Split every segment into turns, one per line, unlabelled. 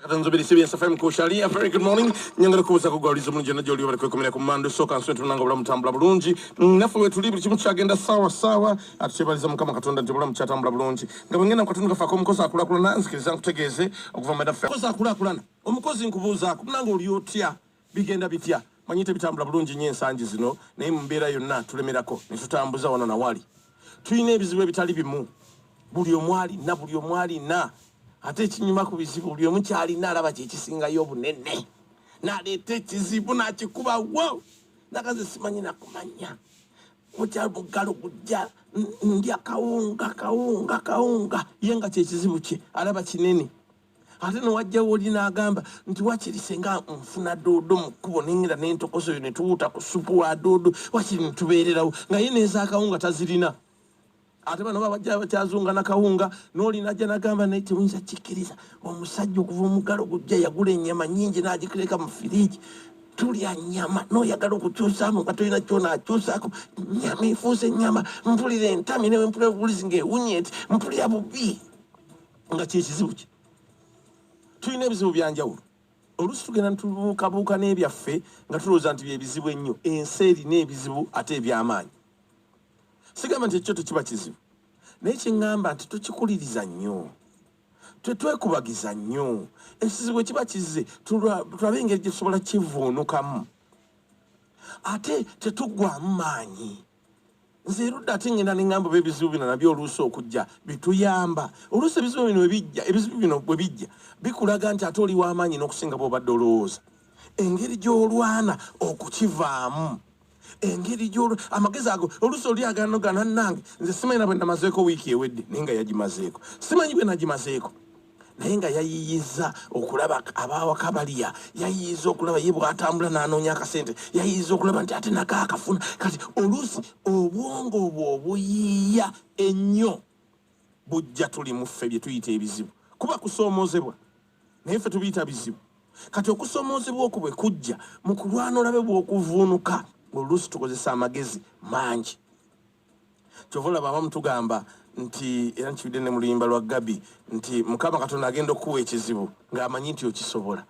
Tanzubiri CBS FM ku Sharia. Very good morning. Nyangala kubuza kugwaliza omuntu jana joli bali kwekomera ku mando soka nswe tunanga bulamu tambula bulungi. Mm, Nafe we tuli buli kimu kyagenda sawa sawa. Atubaliza mukama katonda nti bulamu kyatambula bulungi. Nga bwengenda katonda kafa ko mukozi akula kulana nzikiriza nkutegeeze okuva mu dafa. Mukozi akula kulana. Omukozi nkubuuza akunanga oli otya? Bigenda bitya? Manyi tebitambula bulungi nnyo ensangi zino, naye mu mbeera yonna tulemerako ne tutambuza wano na wali. Tulina ebizibu ebitali bimu, buli omu alina, buli omu alina. Ate ekinyuma ku bizibu, buli omu ky'alina alaba kye kisingayo obunene, n'aleeta ekizibu n'akikuba wo, nagaze simanyi nakumanya kutya buggalo kujja ndya kawunga kawunga kawunga ye nga kyekizibu kye alaba kinene ate newajja woli nagamba nti wakiri senga nfuna doodo mu kkubo nengera nentokoso yo netuwuuta ku supu wa doodo wakiri netubeererawo nga ye nezaakawunga tazirina ate bano babajja bakyazunga nakawunga nolina ajja nagamba naye tewinza kikkiriza omusajja okuva omugalo gujja yagula enyama nyingi nagikireka mu firiigi tulya nyama noyagala okukyusamu nga tolina kyona akyusako nyama efuuse nyama mpulira entami newe mpulira obulizi ngaewunye nti mpulira bubi nga kyekizibu kye tulina ebizibu byanjawulo oluusi tugenda ntubuukabuuka n'ebyaffe nga tulowooza nti byebizibu ennyo ensi erina ebizibu ate ebyamaanyi sigamba nti ekyo tekiba kizibu naye kyeŋŋamba nti tukikuliriza nnyo tetwekubagiza nnyo ekizibu ekiba kizze tulabe engeri gye tusobola kivuunukamu ate tetuggwamu maanyi nze erudda ate ngenda nengamba oba ebizibu bino nabyo oluusi okujja bituyamba oluusi ebizibu bino ebijja ebizibu bino bwe bijja bikulaga nti ate oli w'amaanyi n'okusinga bwobadde olowooza engeri gy'olwana okukivaamu engeri gyol amagezi ago oluusi oli agano ganannange nze simanyi na bwe namazeeko wiiki ewedde naye nga yagimazeeko simanyi bwe nagimazeeko naye nga yayiyiza okulaba abawaka balya yayiyiza okulaba ye bwatambula nanoonya akasente yayiyiza okulaba nti ate nako akafuna kati oluusi obwongo obwo obuyiiya ennyo bujja tuli muffe bye tuyita ebizibu kuba kusoomozebwa naye ffe tubiyita bizibu kati okusoomozebwa okwo bwe kujja mu kulwana olabe bw'okuvuunuka oluusi tukozesa amagezi mangi kyova olaba abamu tugamba nti era nkiwidde ne mu luyimba lwa gabi nti mukama katonda agenda okukuwa ekizibu ng'amanyi nti okisobola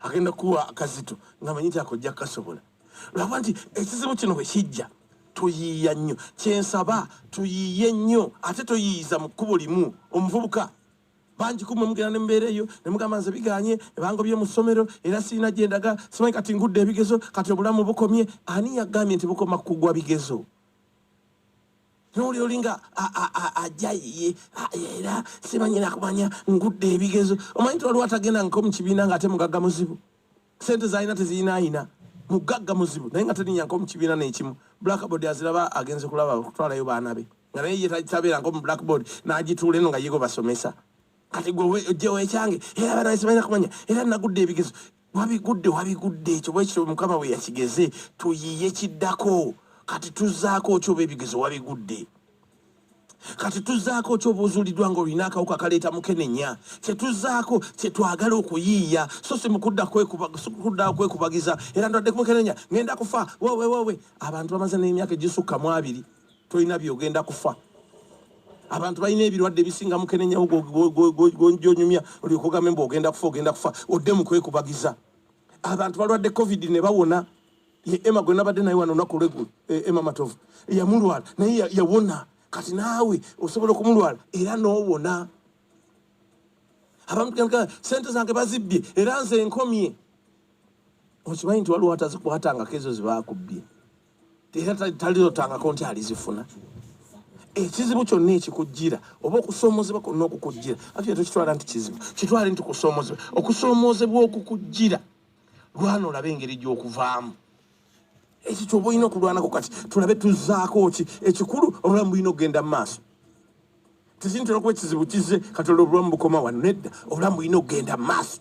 agenda kukuwa akazito ng'amanyi nti ako ojja kukasobola lwakuba nti ekizibu kino bwe kijja tuyiiya nnyo kyensaba tuyiiye nnyo ate toyiiyiza mu kkubo limu omuvubuka bangi kumwe mugenda ne mbeera eyo ne mugamba nze biganye ebango bye mu ssomero era sirina gye ndaga simanyi kati ngudde ebigezo kati obulamu bukomye ani yagambye nti bukoma kugwa bigezo noli olinga ajja ye era sibanyina kumanya ngudde ebigezo omanyi ti waliwo atagenda nko mukibiina nga ate mugagga muzibu sente zalina teziyinaayina mugagga muzibu naye nga teninya nko mukibiina nekimu blackboard aziraba agenze kulaba okutwalayo baana be nga naye yetabeera nko mu blackboard n'agituula eno nga yego basomesa kati gwe ojjewo ekyange era abaana besibalina kumanya era nagudde ebigezo wabigudde wabigudde ekyo bwekityo mukama bwe yakigeze tuyiye kiddako kati tuzaako okyoba ebigezo wabigudde kati tuzaako ki obuuzuliddwa nga olina akawuka kaleeta mukenenya kyetuzaako kyetwagala okuyiiya so si mukudda kudda kwekubagiza era ndwadde kumukenenya ngenda kufa wewewewe abantu bamaze n'emyaka egisukka mu abiri tolina byogenda kufa abantu balina ebirwadde ebisinga mukenenyawo gyonyumya olyoka ogambe mbu ogenda kufa ogenda kufa odde mu kwekubagiza abantu balwadde covid ne bawona ye ema gwe nabadde naye wano olunaku olweggulo e, ema matovu yamulwala naye yawona kati naawe osobola okumulwala era n'owona abamu sente zange bazibbye era nze enkomye okimanyi nti waliwo atazikwatangako ezo zibaakubbye era taliotangako nti alizifuna ekizibu kyonna ekikujjira oba okusoomoozebwa kwonna okukujjira ati tokitwala nti kizibu kitwale nti kusoomoozebwa okusoomoozebwa okukujjira lwana olabe engeri gy'okuvaamu ekyo kyoba olina okulwanako kati tulabe tuzaako ki ekikulu obulamu bulina okugenda mu maaso tezintera okuba ekizibu kizze kati olwo obulamu bukoma wano nedda obulamu bulina okugenda mu maaso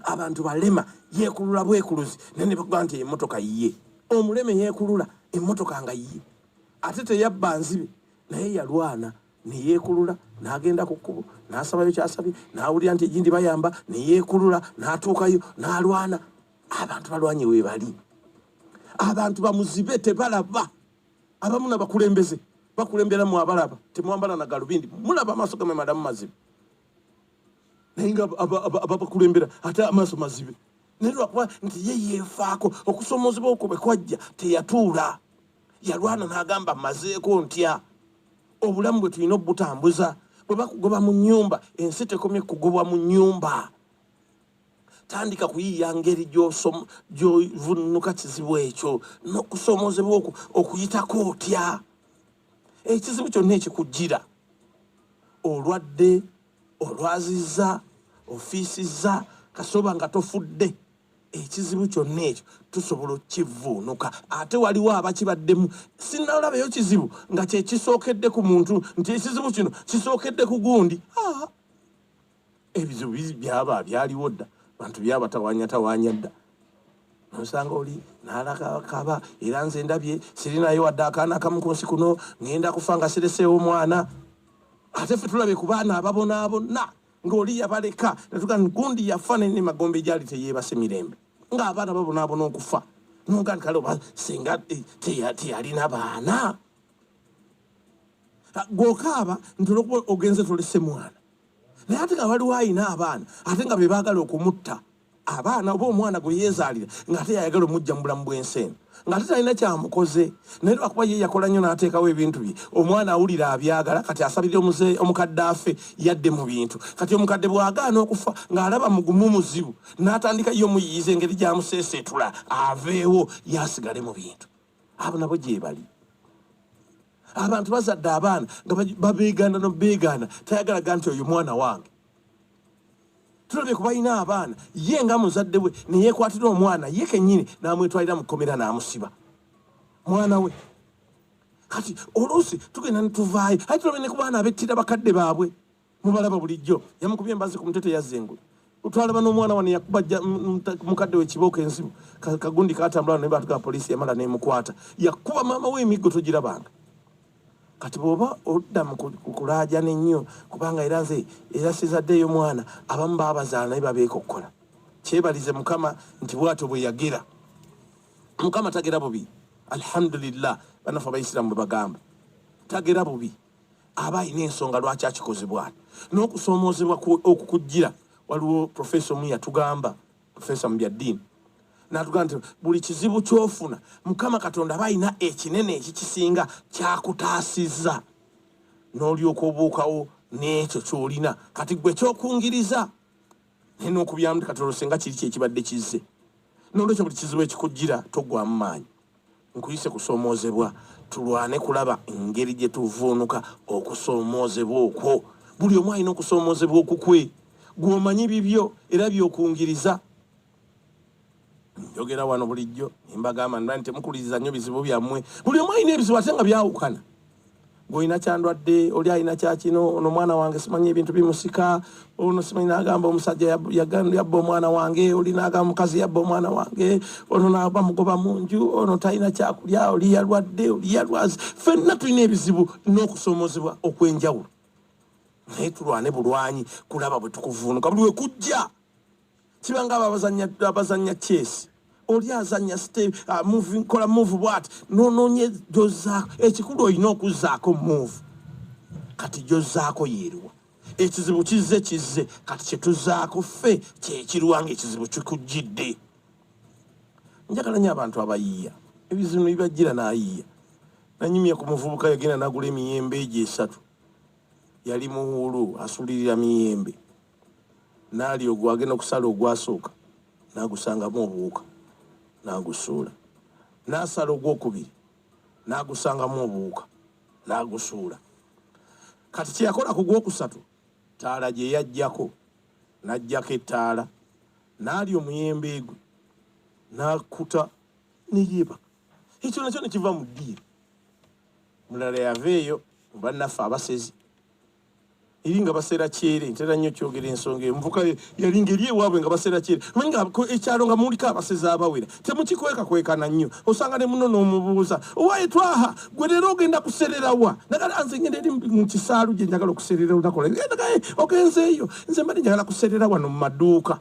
abantu balema yekulula bwekuluzi naye ne bakugaa nti emotoka yiye omuleme yekulula emotoka nga yiye ate teyabba nzibe naye yalwana neyekulula nagenda ku kkubo nasabayo kyasabye nawulira nti egindi bayamba neyekulula natuukayo nalwana abantu balwanye webali abantu bamuzibe tebalaba abamu nabakulembeze bakulemberamu abalaba temwambala na galubindi mulaba amaaso gamwe madamu mazibu naye nga ababakulembera ate amaaso mazibe naye lwakuba nti ye yeefaako okusomoozebwa okwo bwe kwajja teyatuula yalwana n'agamba mazeeko ntya obulamu bwe tulina obutambuza bwe bakugoba mu nnyumba ensi tekomye kugobwa mu nnyumba tandika kuyiiya ngeri gyovunnuka kizibu ekyo n'okusomoozebwa okuyitako otya ekizibu kyonna ekikujjira olwadde olwazizza ofiisizza kasoba nga tofudde ekizibu kyonna ekyo tusobola okukivvuunuka ate waliwo abakibaddemu sinalabayo kizibu nga kyekisookedde ku muntu nti ekizibu kino kisookedde ku gundi ebyo byaba byaliwo dda bantu byabatawanyatawanya dda nosanga oli nalakaba era nze ndabye sirinayo wadde akaana akamu ku nsi kuno ngenda kufa nga sireseewo omwana ate fe tulabye ku baana ababonaabonna ng'oli yabaleka natuga gundi yafa naye ne magombe gyali teyeebase mirembe ng'abaana babonaabona okufa noga nti kale oba singa eh, teyalina baana gwokaaba nti olwokuba ogenze tolese mwana naye ate nga waliwo alina abaana ate nga bebaagala okumutta abaana oba omwana gwe yeezaalira ng'ate yayagala omujja mu bulamu bw'ensi eno ng'ate talina kyamukoze naye lwakuba ye yakola nnyo n'ateekawo ebintu bye omwana awulira abyagala kati asabirira omuze omukadde afe yadde mu bintu kati omukadde bw'agaana okufa ng'alaba mugumu muzibu n'atandika ye omuyiyiza engeri gy'amuseeseetula aveewo ye asigale mu bintu abo nabo gyebali abantu bazadde abaana nga babeegaana nobeegaana tayagalaga nti oyo mwana wange tulabye kubalina abaana ye nga muzadde we neyekwatira omwana ye kenyini namwetwalira mukomera namusiba mwana we kati oluusi tugenda netuvaayo aye tulabye nekubaana abettira bakadde baabwe mubalaba bulijjo yamukubye embazi ku mutwe teyazzengula twalaba n'omwana wano yakuba mukadde we kibooko enzibu kagundi katambula naye baatugaa poliisi yamala nemukwata yakuba maama we emiggo togirabanga kati bwoba odda mukulaajana ennyo kubanga era nze era sizaddeeyo mwana abamu baabazaala naye babeeka okukola kyebalize mukama nti bwatyo bwe yagira mukama tagera bubi alhamdulillah banafe abaisiramu bwe bagamba tagera bubi aba alina ensonga lwaki akikozebwa n'okusoomoozebwa okukujjira waliwo profesa omu yatugamba profesa mu byaddiini natugamba nti buli kizibu kyofuna mukama katonda aba alina ekinene ekikisinga kyakutaasiza n'olyoka obuukawo n'ekyo kyolina kati gwe kyokungiriza naye n'okubyamu katonda osenga kiri kyekibadde kizze n'olwekyo buli kizibu ekikujjira togwamu maanyi nkuyise kusoomoozebwa tulwane kulaba engeri gye tuvuunuka okusoomoozebwa okwo buli omu alina okusoomoozebwa okukwe gwomanyi bibyo era byokungiriza njogera wano bulijjo embagamba nti temukuliriza nnyo bizibu byammwe buli omu alina ebizibu ate nga byawukana ng'olina kyandwadde oli alina kyakino ono omwana wange simanyi ebintu bimusika ono simanyi nagamba omusajja yabba omwana wange oli nagamba mukazi yabba omwana wange ono naba mugoba mu nju ono talina kyakulya oli yalwadde oli yalwazi fenna tulina ebizibu n'okusoomozebwa okw'enjawulo naye tulwane bulwanyi kulaba bwe tukuvuunuka buli wekujja kiba nga abazanya abazanya chess oli azanya ste uh, move kola move what no no nye joza ekikulu oyina okuzako move kati jozako yeriwa ekizibu kizze kizze kati kyetuzaako ffe kyekirwanga ekizibu kikujjidde njagala nyo abantu abayiya ebizibu bibajjira nayiya nanyumye ku muvubuka yagenda nagula emiyembe egyo esatu yali muwulu asulirira miyembe naali ogwo agenda okusala ogwasooka nagusangamu obuwuka nagusuula nasala ogwokubiri nagusangamu obuwuka nagusuula kati kyeyakola ku gwokusatu taala gyeyajjako najjako ettaala naali omuyembe gwe nakuta neyeba ekyo nakyo nekiva mu ddiiro mulala yava eyo mubannaffe abasezi eri nga baseera kyere ntera nnyo kyogera ensonga eyo muvuka yali ngeri ewaabwe nga baseera kyere manyi nga ekyalo nga muliko abasezi abawera temukikwekakwekana nnyo osanga ne muno n'omubuuza owaye twaha gwe leero ogenda kusererawa nagala nze ngenda eri mu kisaalu gye njagala okuserera olunaku lwa ogenzeeyo nze mbadde njagala kuserera wano mu maduuka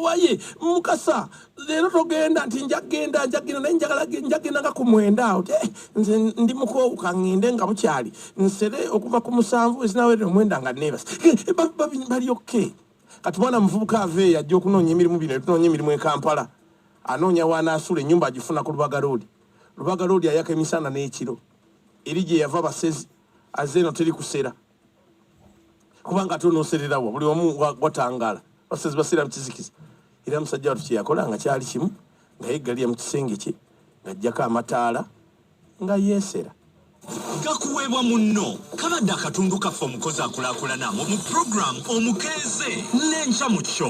waye mukasa leero togenda nti njagenda njagenda naye njagala njagenda nga ku mwenda awo te eh, nze ndi mukoowu kaŋŋende nga bukyali nsere okuva ku musanvu ezinawerera omwenda nga neebasa eh, eh, bali okke kati mwana muvubuka ava eyo ajja okunoonya emirimu bino etunoonya emirimu e kampala anoonya waanaasula ennyumba agifuna ku lubaga loodi lubaga loodi ayaka emisana n'ekiro eri gye yava basezi aze eno teri kusera kubanga ate onosererawa buli omu watangala basezi basira mukizikiza era musajja watu kyeyakola nga kyali kimu nga yeggalira mu kisenge kye ng'ajjako amataala nga yeesera gakuweebwa
munno kabadde akatundu kaffe omukozi akulakulana mu puroguramu omukeeze n'enkya mu kyo